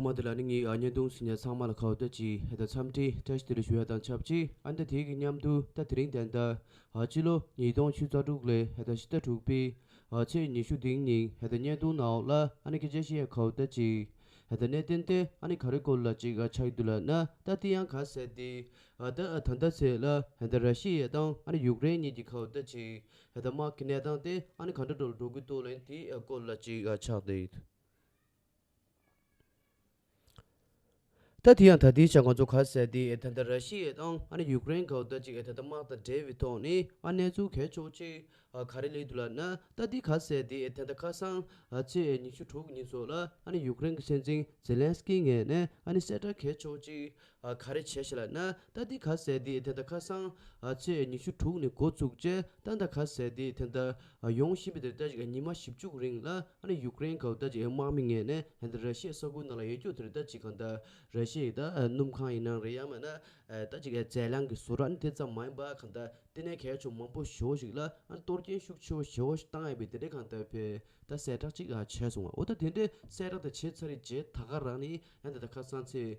ཐོག་མ་དེ་ལ་ནི་ངའི་ཨ་མྱེས་དུང་སི་ཉག་ཚང་མ་ལ་ཁ་བ་ལྟ་ཅི་ཧད་དང་འཚམས་འདྲི་བཀྲ་ཤིས་བདེ་ལེགས་ཞུ་བ་དང་ཆབས་ཅིག་ཨ་མདའ་དེའི་གི་མཉམ་དུ་ད་དེ་རིང་དན་ད་ཨ་ཕྱི་ལོ་ཉིས་སྟོང་ཆུ་རྩ་དྲུག་ལས་ཧད་ད་ཕྱི་ཟླ་དྲུག་པའི་ཨ་ཚེས་ཉི་ཤུ་དིང་ཉིན་ཧད་ད་བརྙན་ཐུང་ནག་ཨོག་ལ་ཨ་ནི་སྐད་ཆ་ཤི་ཡ་ཁ་བ་ལྟ་ཅི་ཧད་ད་གནས་བརྟན་ཏེ་ཨ་ནི་ག་རེ་སྐོར་ལ་ཅིག་ཨ་ཆགས་ཀྱི་འདུག་ལ་ན་ད་དེ་ཡང་གང་ཟེར་ཏེ་ཨ་ད་ཨ་ད་ད་ཚེས་ལ་ཧད་ད་ར་ཤི་ཡའི་དང་ཨ་ནི་ཡུག་རེན་གཉིས་ཀྱི་ཁ་བ་ལྟ་ཅི་ཧད་ད་དམག་གི་གནས་སྟངས་དེ་ཨ་ནི་ག་འདྲ་འགྲོ་ལ་འགྲོ་གི་འདུག་ལན་དེའི་ཨ་སྐོར་ལ་ཅིག་ཨ་ཆགས་ཏེ། ད་དེ་ཡང་ད་ལྟའི་ཆར་ང་ཚོ་ག་ཟེར་ཏེ་ད་ལྟ་ར་ཤི་ཡའི་དང་ཨ་ནི་ཡུ་ཀེ་རེན་གང་ལྟར་ཅིག་ད་ལྟ་དམག་དང་འབྲེལ་བའི་ཐོག་ནས་ཨ་གནས་ཚུལ་གལ་ཆོག་ཅིག་ག་རེ་གླེང་འདུག་ལབ་ན་ད་དེ་ག་ཟེར་ཏེ་ད་ལྟ་ཁ་སང་ཚེས་ཉི་ཤུ་དྲུག་ཉིན་སོགས་ལ་ཨ་ནི་ཡུ་ཀེ་རེན་གྱི་སྲིད་འཛིན་ཛེ་ལན་སི་ཀིའི་ངས་ནས་ཨ་ནི་གསལ་བསྒྲགས་གལ་ཆོག་ཅིག་ཨ་ག་རེ་བྱས་ཤེས་ལ་ན་ད་འདི་ག་ཟས་འདི་དེ་ད་ཁ་སང་ཨ་ཚེས་ཉི་ཤུ་དྲུག་ནས་མགོ་བཙུགས་རྗེས་ད་འདའ་ག་ཟས་འདི་དེ་འདའ་ཡོང་བཞིན་པའི་དེར་ད་ཅིག་ཉི་མ་བཞི་བཅུག་རིང་ལ་ཨ་ནི་ཡུག་རེན་གའུ་ད་ཅིག་དམག་མི་ངེས་ནས་ཧན་ད་ར་ཤེས་ས་ཁུལ་ནང་ལ་ཡོད་རྒྱུ་དེར་ད་ཅིག་གང་འདའ་ར་ཤེས་ད་སྣུམ་ཁང་ཡི་ནང་རེད་ཡང་མ་ན་ད་ཅིག་ཨ་ཛའི་ལང་གི་བཟོ་ར་ནི་དེ་ཙམ་མ་ཡིན་པ་གང་འདའ་དེ་ནས་གས་ཆུང་མང་པོ་བཞི་བོ་ཞིག་ལ་ཨ་ནི་གཏོར་སྐྱེན་ཤུགས་ཆེ་བོ་བཞི་བོ་ཞིག་བཏང་ཡོད་པའི་དེ་འདྲས་གང་འདའ་བས་ད་གསལ་བསྒྲགས་ཅིག་བྱས་སོང་བ་འོ་ད་དེ་འདྲས་གསལ་བསྒྲགས་དེ་བྱས་ཚར་རིས་རྗེས་ད་ག་རང་ནི་ཧན་ད་ད་ཁ་སང་ཚེས་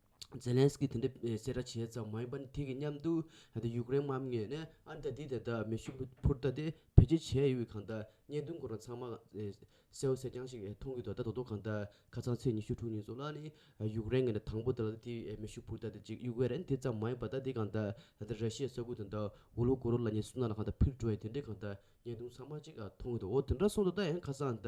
ཛེ་ལན་སི་ཀིས་དེ་འདྲའི་གསལ་བསྒྲགས་བྱས་ཙང་མ་ཡིན་པར་དེ་གི་མཉམ་དུ་ཡུག་རེན་དམག་མི་ནི་ཨ་མདའ་དེ་དེ་དག་མེ་ཤུགས་བུ་འཕུར་མདའ་དེ་བེད་སྤྱོད་བྱས་ཡོད་གང་དག་བརྙན་ཐུང་སྐོར་ཚང་མ་གསལ་བོ་གསལ་རྐྱང་ཞིག་མཐོང་གི་འདུག་ད་དོ་དོ་གང་དག་ཁ་ཚང་ཚེས་ཉི་ཤུ་དྲུག་ཉིན་སོགས་ལ་ནི་ཡུག་རེན་གི་ནི་དང་པོ་དེ་ལ་དེ་མེ་ཤུགས་འཕུར་མདའ་དེ་གཅིག་ཡུག་རེན་དེ་ཙམ་མ་ཡིན་པར་ད་དེ་གང་དག་ད་དེ་ར་ཤི་ཡའི་ས་ཁུལ་དེ་འདྲ་ཝུ་ལྷོ་གོ་རོ་ལ་ཉེ་སུ་ན་ལ་གང་དག་ཕིར་འགྲོ་ཡི་དེ་འདྲའི་གང་དག་བརྙན་ཐུང་ཚང་མ་གཅིག་མཐོང་གི་འདུག་འོ་དེ་འདྲ་སོང་དོ་ད་ཡང་ཁ་ཚང་ད་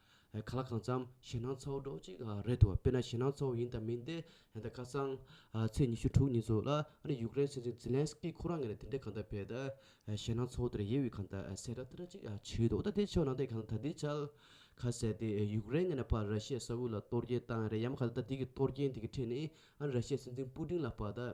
ག་ལ་གང་འཚམ་ཞེད་སྣང་ཚ་བོ་སྒྲོག་གཅིག་རེད་འདུག་དཔེར་ན་ཞེད་སྣང་ཚ་བོ་ཡིན་དང་མིན་དེ་ཁ་སང་ཚེས་ཉི་ཤུ་དྲུག་ཉིན་ཚོ་ལ་ཨ་རི་ཡུཀ་རེན་སྲིད་འཛིན་ཛི་ལན་སི་ཀི་ཁོ་རང་ངས་དེ་འདྲའི་གང་འདྲ་བས་ད་ཞེད་སྣང་ཚ་བོ་དེར་ཡིད་འོས་གང་འདྲ་སེ་ར་ཏི་ར་གཅིག་བྱས་འདུག་ད་དེ་ཆོག་ནང་དེ་གང་ད་དེའི་ཆལ་ཁ་གསལ་ཏེ་ཡུཀ་རེན་ངས་ན་ཕར་ར་ཤི་ཡས་ས་ཨུལ་ལ་གཏོར་རྒྱལ་བཏང་རེད་ཡ་མ་ག་ད་ད་དེ་གི་གཏོར་རྒྱན་དེ་གི་ཁྲིད་ནི་ཨ་རི་ར་ཤི་ཡས་སྲིད་འཛིན་པུ་ཏིན་ལ་ཕ་ད།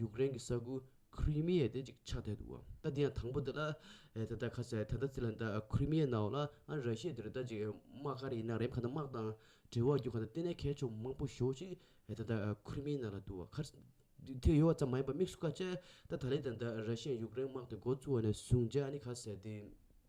ཡུཀ་རེན་གྱི་ས་ཁུལ་ཁི་རི་མི་ཡའི་དེ་ཅིག་ཆགས་བསྡད་འདུག་ད་དེ་ཡང་དང་པོ་དེ་ལ་ད་ལྟ་ཁ་ཟས་ད་ལྟ་ཙི་ལ་འདའ་ཁི་རི་མི་ཡའི་ནང་ལ་ཨ་ར་ཤའི་དེར་ད་ཅིག་དམག་ག་རེ་ཡིན་ན་རེམ་ག་ད་དམག་དང་འབྲེལ་བ་རྒྱུ་ག་ད་བལྟས་ན་ཁའི་ཕྱོགས་མང་པོ་ཞོག་ཅིག་ད་ད་ཁི་རི་མི་ཡའི་ནང་ལ་འདུག་ཁར་དེ་ཡོད་བ་ཙམ་མ་ཡིན་པ་མིག་སུ་ཁ་ཅད་ད་ད་ལའི་ད་ད་ར་ཤའི་ཡུཀ་རེན་དམག་དེ་འགོ་བཙུགས་བ་ནས་བཟུང་རྒྱ་ནི་ཁ་ཟས་དེ།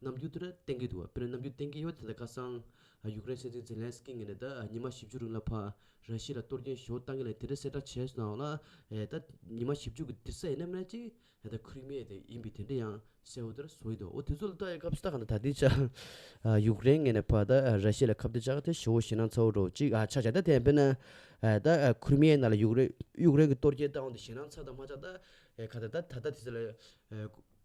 ནམ་རྒྱུན་དེར་གཏན་འཁེལ་འདུག་དཔེར་ན་ནམ་རྒྱུན་གཏན་འཁེལ་ཡོད་དེ་ལ་ཁ་སང། ཡུཀ་རེན་སྲིད་འཛིན་ཛེ་ལན་སི་ཀིས་ངེད་ནས་ད་ཉི་མ་བཞི་བཅུ་རིང་ལ་ཕ་ར་ཤི་ལ་གཏོར་སྐྱོན་ཞུ་བཏང་གི་ལས་དེ་འདྲའི་གསལ་བསྒྲགས་བྱས་སོང་ནའང་ལ། ད་ཉི་མ་བཞི་བཅུ་གི་དེ་སད་ཡེ་ནས་མེད་ཅིང། ད་ཁུ་རི་མེ་དེ་ཡིན་པའི་དེ་འདྲ་ཡང་གསལ་བོ་དེར་བཟོ་ཡི་འདུག་འོ་དེ་ཚོ་ལ་ད་ཡི་སྐབས་སུ་ད་ག་འདྲ་ད་དེའི་ཆ། ཡུཀ་རེན་ངེད་ནས་ཕ་ད་ར་ཤི་ལ་ཁ་བརྡ་བྱ་གི་དེ་ཞུ་བོ་ཞེ་ན་ཚ་བོ་འགྲོ་གཅིག་ཨ་ཆ་བྱ་ད་དེ་ཡང་དཔེར་ན། ད་ཁུ་རི་མེ་ཡི་ནང་ལ་ཡུཀ་རེན་གྱི་གཏོར་སྐྱོན་བཏང་བ་དེ་ཞེ་ན་ཚ་དང་མ་ཚ་ད། ཁ་ད་ད་ད་ད་དེ་ཚོ་ལ།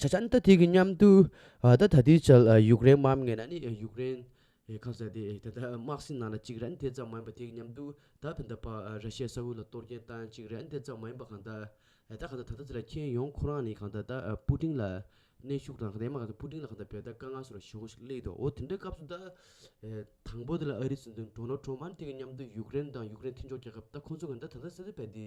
ཆ་ཆན་ད་ཐིག་གི་མཉམ་དུ་ད་ད་ཐིག་ཆལ་ཡུག་རེན་མམ་ངེ་ན་ནི་ཡུག་རེན་ཡེ་ཁབ་ཟེར་ཏེ་ད་ད་དམག་སྲིད་ནང་ལ་གཅིག་རན་དེ་ཙམ་མ་ཡིན་པ་ཐིག་མཉམ་དུ་ད་ད་ད་པ་ར་ཤའི་ས་ཁུལ་ལ་གཏོར་སྐྱེན་བཏང་གཅིག་རན་དེ་ཙམ་མ་ཡིན་པ་གང་ད་ད་གང་ད་ད་ད་ཚི་ལ་ཁྱེན་ཡོང་ཁོ་རང་ནི་གང་ད་ད་པུ་ཏིང་ལ་གནས་ཤུགས་དང་དེ་མ་གང་ད་པུ་ཏིང་ལ་གང་ད་བལ་ད་དཀའ་ངལ་སོ་ར་ཞི་ཧོ་ཞིག་གླེགས་འདུག་འོ་དེ་འདྲའི་སྐབས་སུ་ད་དང་པོ་དེ་ལ་ཨ་རི་སི་འདུན་གྲོ་ནོ་ཁྲོ་མ་ནི་ཐིག་གི་མཉམ་དུ་ཡུག་རེན་དང་ཡུག་རེན་མཐུན་ཕྱོགས་རྒྱལ་ཁབ་ད་ཁོང་ཚོ་གང་ད་ད་ད་ས་ཚིག་བལ་དེ་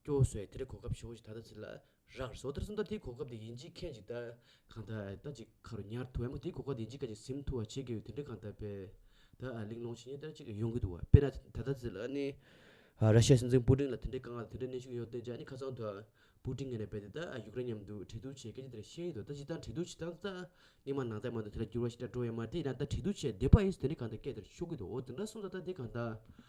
སྐྱོ་བོ་སོས་དལ་གོ་སྐབས་ཆེན་པོ་ཞིག་ད་ལྟ་ཟིན་ལ། རག་སོ་དལ་སོ་འདར་དེའི་གོ་སྐབས་དེ་ཡིན་གཅིག་མཁན་གཅིག་ལྟ། གང་ལྟ་ཨ་ལྟ་ཅིག་ཁ་རུ་ཉར་ཐུ་ཨེ་མོ་དེའི་གོ་སྐབས་དེ་ཡིན་གཅིག་ཁ་ཅིག་སིམ་ཐུ་བ་བྱེད་དགོས་པའི་དོན་འདི་གང་ལྟ་དཔེ། ད་ཨ་གླིང་ལོངས་ཆེན་གཉིས་ལྟར་གཅིག་གིས་ཡོང་གི་འདུག་བ་དཔེ་ན་ད་ལྟ་ཟིན་ལ་ཨ་ནི། ར་ཤ་ཡའི་སྲིད་འཛིན་པུ་ཀྲིན་ལ་དེ་འདྲའི་དཀའ་ངལ་དང་དེ་འདྲའི་གནས་ཤུགས་ཡོད་བརྟེན་ཅི་ཨ་ནི་ཁ་ཚང་དུ། པུ་ཀྲིན་ངན་རེད་པས་དེ་ལྟ་ཨ་ཡུཀ་རེན་མཉམ་དུ་འཁྲིག་སྡུག་བྱེད་སྐད་ཅིག་དེར་ཤེས་ཀྱི་འདུག་ད་ཅི་ལྟར་འཁྲིག་སྡུག་བྱེད་སྟངས་ཙག་སྙིགས་མ་ནང་ལྟད་མོ་འདུག་དེ་ལ་འགྱུར་བ་ཞིག་འདྲ་འགྲོ་ཡ་མ་དེ་ཡིན་ན་ད་འཁྲིག་སྡུག་བྱས་བསྡད་པ་ཨེ་ཡིན་དེ་འདྲའི་གང་ལྟ་སྐད་དེར་ཤོད་ཀྱི་འདུག་འོ་དེ་འདྲ་སོང་ད་ལྟ་དེ་གང་ལྟ།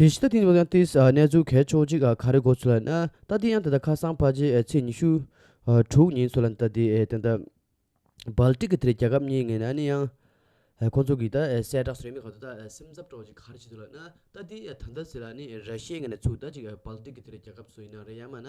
དེ་བཞིན་རྟ་ཐིང་སློབ་ཡང་ཏིས་གནས་ཚུལ་གས་ཆོག་ཅིག་ག་རེ་གོ་ཚུལ་ལ་ན་རྟ་ཐིང་ཡང་ད་ལྟ་ཁ་སང་ཕ་རྗེས་ཚེས་ཉི་ཤུ། དྲུག་ཉིན་ཚུལ་ལ་ན་རྟ་དེ་དེ་འདྲ། བལ་ཏིག་གི་དེར་རྒྱ་ཁབ་གཉིས་ངེས་ན་ནི་ཡང། ཁོ་ཚོ་གིས་ད་གསལ་བསྒྲགས་སུ་ཡང་མི་གང་དུ་ད་སེམས་འཚབ་སྤྲོ་བ་ཅིག་ག་རེ་བྱེད་འདུག་ལ་ན་རྟ་དེ་ད་ད་ཟེར་ལ་ནི་ར་ཤའི་ངེས་ན་ཚུལ་ད་ཅིག་བལ་ཏིག་གི་དེར་རྒྱ་ཁབ་སུ་ཡིན་ན་རེད་ཡང་མ་ན་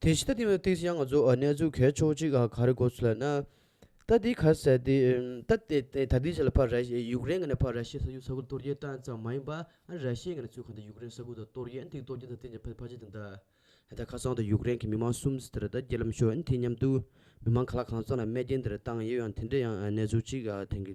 དེ་བཞིན་ལྟ་དེ་བས་ཐེངས་སུ་ཡང་ང་ཚོ་གནས་ཚུལ་གས་ཆོག་ཅིག་ག་རེ་གོ་ཚུལ་ལ་ན། ལྟ་དེའི་ཁ་གསལ་ཏེ། ལྟ་དེ་ད་ལྟའི་ཆ་ལ་ཕ་ར་ཤི་ཡུཀ་རེན་ངེས་ནས་ཕ་ར་ཤི་ས་ཡུལ་ས་ཁུལ་གཏོར་རྒྱལ་བཏང་ཙམ་མ་ཡིན་པ་ཨ་ར་ཤི་ཡི་ངེས་ནས་ཚུལ་གང་དུ་ཡུཀ་རེན་ས་ཁུལ་དང་གཏོར་རྒྱལ་དེའི་གཏོར་རྒྱལ་དང་བསྟན་བྱ་ཕ་ཕ་ཅི་དང་ད་ལྟ་ཁ་སང་དུ་ཡུཀ་རེན་གྱི་མི་མང་གསུམ་དེ་ར་ད་རྒྱལ་ལམ་ཤོར་དེའི་མཉམ་དུ་མི་མང་ག་ལ་གང་ཙམ་ལ་རྨས་སྐྱེན་དེ་ར་བཏང་ཡོད་ཡང་དེ་འདྲའི་ཡང་གནས་ཚུལ་ཅིག་ག་དེང་གི།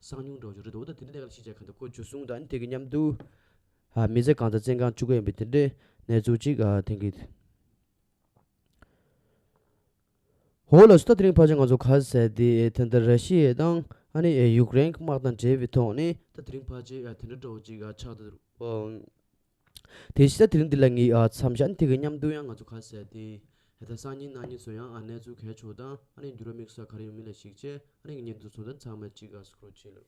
སང་ཉུང་འགྲོ་ཆུ་རི་དྭོགས་དང་དེ་འདྲའི་ནད་ཀ་ལ་ཤིན་ཆད་ཁ་འདི་ཁོ་འཇུ་བཟུང་དང་དེ་གི་མཉམ་དུ། མི་བཟད་གང་དང་བཙན་གང་བཅུ་ག་ཡིན་པའི་དེ་འདྲའི་ནད་ཚུགས་གཅིག་དེང་གི། འོ་ལོ་སྟོད་དེ་རིང་ཕར་ཆེར་ང་ཚོ་གར་ཟེར་དེ་དེ་འདྲ་ར་ཤི་ཡའི་དང་ཨ་ནི་ཡུཀ་རེན་གི་དམག་དང་འབྲེལ་བའི་ཐོག་ནས། ད་དེ་རིང་ཕར་ཆེར་དེ་འདྲ་འགྲོ་བ་གཅིག་ཆགས་འདུག། དེ་ཤེས་ས་དེ་རིང་འདི་ལ་ངའི་མཚམས་ཞྭ་འཐིག་གི་མཉམ་འདུག་ཡང་ང་ཚོ་ཁ་ཟས་ཏེ། ད་ལྟ་སང་ཉིན་གནངས་ཉིན་བཟོ་ཡང་ཨ་ནེ་ཚོ་གས་ཆོག་དང་ཨ་ནེ་འགྱུར་བ་དམིགས་སོགས་ག་རེ་ཡོང་མིན་ལ་གཞིགས་རྗེས་ཨ་ནེ་གི་གཉེན་འདུག་ཚོ་དང་ཚང་མས་གཅིག་ག་སོ་ཁུར་བྱེད་ལོ།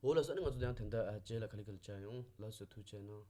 འོ་ལགས་སོ་ཨ་ནེ་ང་ཚོ་དེ་ཡང་དེ་འདྲ་བྱས་ལ་ག་ལེ་ག་ལེ་བྱ་ཡོང་ལགས་སོ་ཐུགས་ཆེ་གནང།